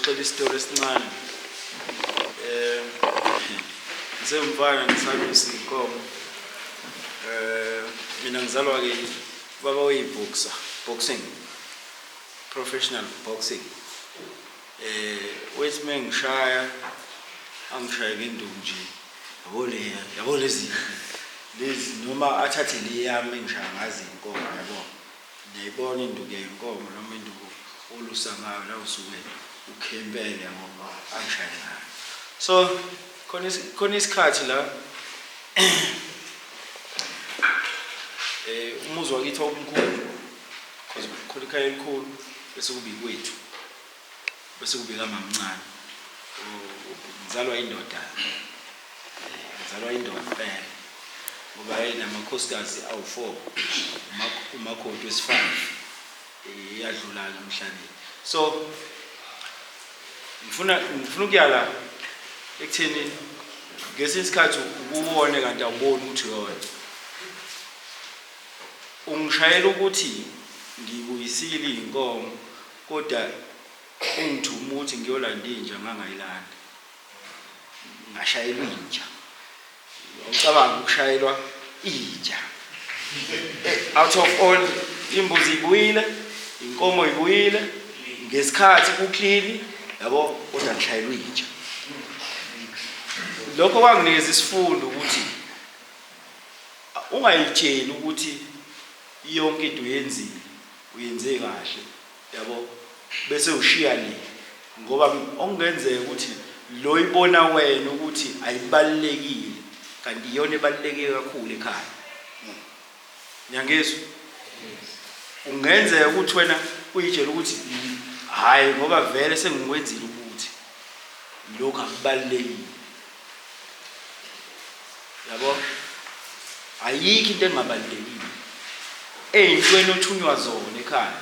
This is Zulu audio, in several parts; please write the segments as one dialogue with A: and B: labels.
A: Ngixoxela isitori esincane. Eh ngisewumfana ngisalusa inkomo. Eh mina ngizalwa ke baba oyiboxer, boxing. Professional boxing. Eh wethi mengishaya angishaye ngenduku nje. Yabo le yabo lezi lezi noma athathe le yami engishaya ngazi inkomo yabo. Niyayibona induku yenkomo noma induku olusa ngayo la usuke ukhempele ngoba ayishayele ngayo. So khona khona isikhathi la eh umuzi wakithi wawumkhulu because khona ikhaya elikhulu bese kuba ikwethu. Bese kubika mamncane. Ngizalwa indoda. Ngizalwa indoda impela. Ngoba hey namakhosikazi awu4 umakoti wesifana iyadlula ke emhlabeni. So ngifuna ngifuna ukuyala ekutheni ngesinye isikhathi ukuwone kanti awuboni ukuthi uyona ungishayela ukuthi ngibuyisile inkomo Koda engithuma ukuthi ngiyolanda inja ngangayilanda. Ngashayelwa inja. Ucabanga ukushayelwa inja. Eh, out of all imbuzi ibuyile, inkomo ibuyile, ngesikhathi kuklini yabo kodwa ngishayelwa inja. Lokho kwanginikeza isifundo ukuthi ungayitsheli ukuthi yonke into yenzile Uyenze kahle yabo bese ushiya le ngoba okungenzeka ukuthi lo ibona wena ukuthi ayibalulekile kanti iyona ebaluleke kakhulu ekhaya. Niyangizwa? Kungenzeka ukuthi wena uyitshela ukuthi hhayi ngoba vele sengikwenzile ukuthi lokhu akubalulekile. yabo ayikho into engabalulekile eyintweni othunywa zona ekhaya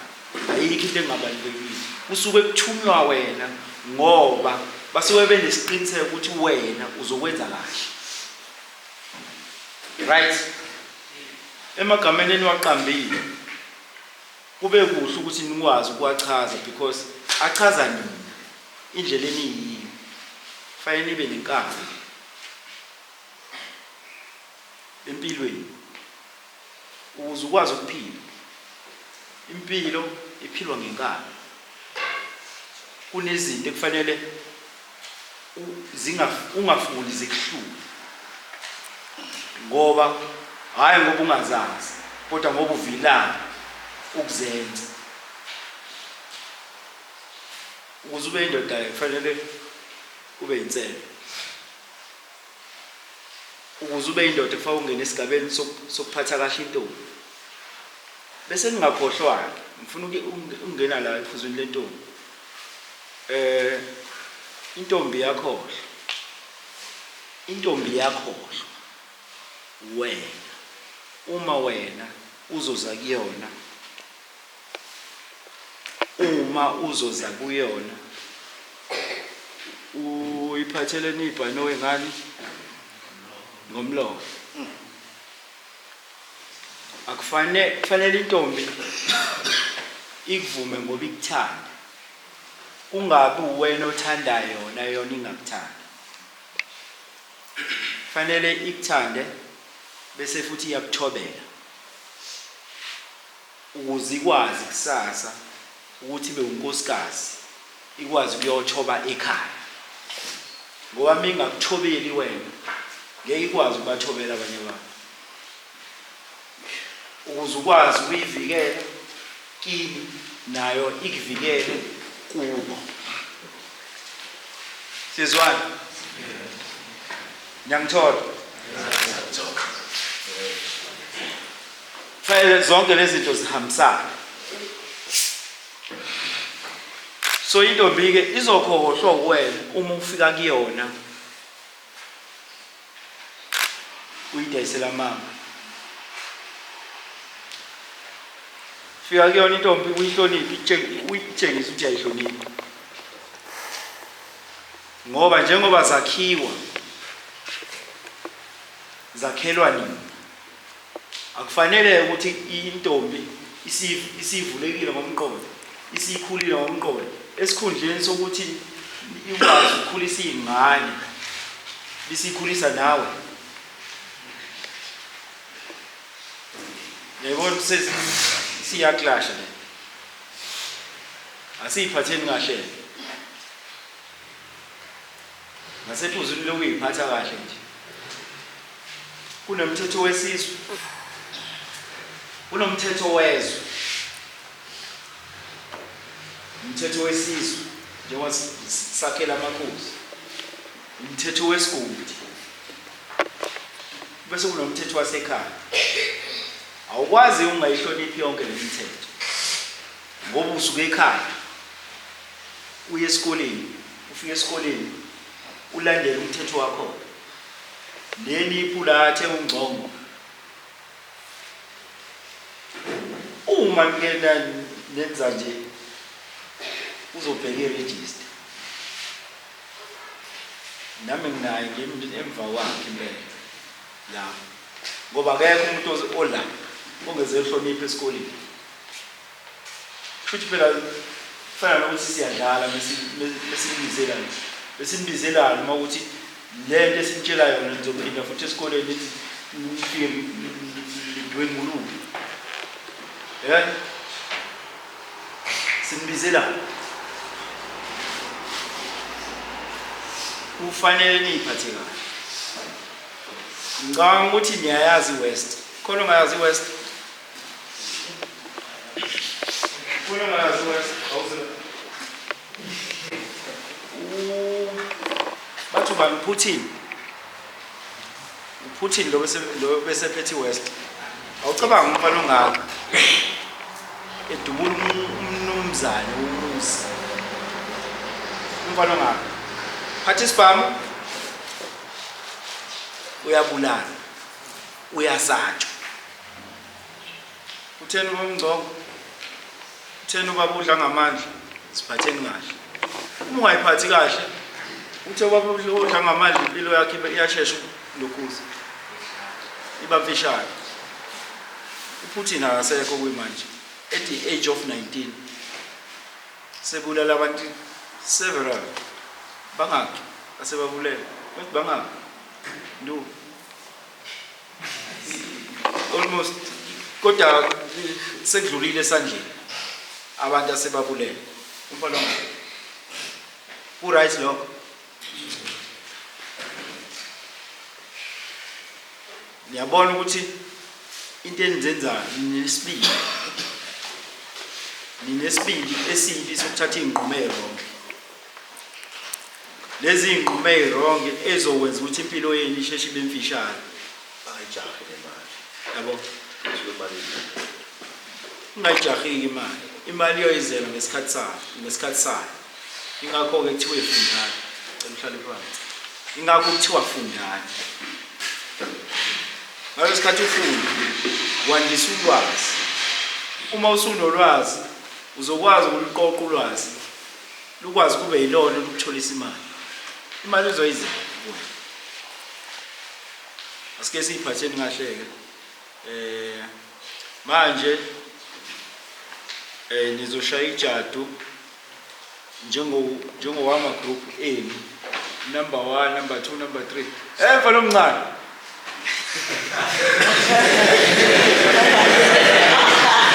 A: ayikho into engabalulekile usuke kuthunywa wena ngoba basuke benesiqiniseko ukuthi wena uzokwenza kahle right emagameni eniwaqambile kube kuhle ukuthi nikwazi ukuwachaza because achaza nini Indlela eniyiyo fanele nibe nenkani empilweni ukuze ukwazi ukuphila. Impilo iphilwa ngenkani. Kunezinto ekufanele ungafuni zikuhlule ngoba hhayi ngoba ungazazi kodwa ngoba uvilana ukuzenza. ukuze ube indoda kufanele ube yinsele ukuze ube indoda kufanele ungene esigabeni sokuphatha kahle intombi bese ngingakhohlwanga ngifuna ukungena la ephuzwini lentombi eh intombi yakhohlwa intombi yakhohlwa wena uma wena uzoza kuyona uma uzoza kuyona uyiphatheleni ibhanoyi ngani ngomlomo akufanele kufanele intombi ikuvume ngoba ikuthanda kungabi uwena othanda yona yona ingakuthanda kufanele ikuthande bese futhi iyakuthobela Ukuze ikwazi kusasa ukuthi ibe unkosikazi ikwazi ukuyothoba ekhaya. Ngoba uma ingakuthobeli wena ngeke ikwazi ukubathobela abanye abantu. Ukuze ukwazi ukuyivikela kini nayo ikuvikele kubo. Sizwana? Niyangithola? Kufanele zonke lezi zinto zihambisane. So intombi-ke izokhohlwa uwena uma ufika kuyona uyidayisela mama. Fika kuyona intombi uyihloniphe, uyitshengise ukuthi uyayihlonipha. Ngoba njengoba zakhiwa zakhelwa nini? Akufanele ukuthi intombi isivulekile ngomqondo, isikhulile ngomqondo, esikhundleni sokuthi ikwazi ukukhulisa iy'ngane, bisikhulisa nawe. Yayibona siyaklasha le. Asiyiphatheni kahle. Ngasethuzwini lokuyiphatha kahle nje. Kunomthetho wesizwe. Kunomthetho wezwe. Umthetho wesizwe njengoba sakhela amakhosi. Umthetho wesigodi. Bese kunomthetho wasekhaya. Awukwazi ungayihloniphi yonke le mithetho. Ngoba usuke ekhaya uye esikoleni Ufike esikoleni ulandele umthetho wakho leli iphula athe ungcongo uma ngena nenza nje uzobheka iregister nami nginaye ngimntu emva kwakhe impela la ngoba akekho umuntu ola ongeze ehloniphe esikoleni Kushuthi phela kufana nokuthi siyadlala mesimbizelana. Besimbizelana uma ukuthi le nto esimtshela yona nizophinda futhi esikoleni lithi nifike lidwenguluke. Eh? Simbizelana. Kufanele niyiphathe kahle. Ngicabanga ukuthi niyayazi iWest. Khona ongayazi iWest? bathi ubani uputin uputin lo besephethe iwest awucabanga ukuba longaka edubula umnumzane umuzi umfana ongaka phatha isibhamu uyabulala Uyazanjwa. Utheni ubaba uNgcongo? Utheni ubaba udla ngamandla? Siphatheni kahle. Uma ungayiphathi kahle, uthe ubaba udla ngamandla impilo yakhe ibe- iyashesha lokhuza. Iba mfishane. UPutin akasekho kuyimanje. At the age of 19 sebulala abantu several bangaki asebabulele. Bathi bangaki? Ndu. almost kodwa sekudlulile esandleni abantu asebabulele umfana ku-right lokho niyabona ukuthi into enizenzayo ninesibili ninesibili esibi sokuthatha iy'nqumelo lezi iy'nqumo ey'rongi ey'zokwenza ukuthi impilo yenu isheshe ibe mfishane ayijahe
B: le mali yabo
A: Suke imali
B: eningi.
A: ungayijahiki imali imali iyoyizela ngesikhathi sayo ngesikhathi sayo ingakho-ke kuthiwa ifundani cela uhlale phansi ingakho kuthiwa fundani ngalo sikhathi ufunda wandisa ulwazi uma usunolwazi uzokwazi ukuluqoqa ulwazi lukwazi kube yilona olukutholisa imali imali uzoyiza kuye asike siyiphatheni kahle-ke um manje um nizoshaya ijadu njengowama group enu number one number two number three emva eh, lomncane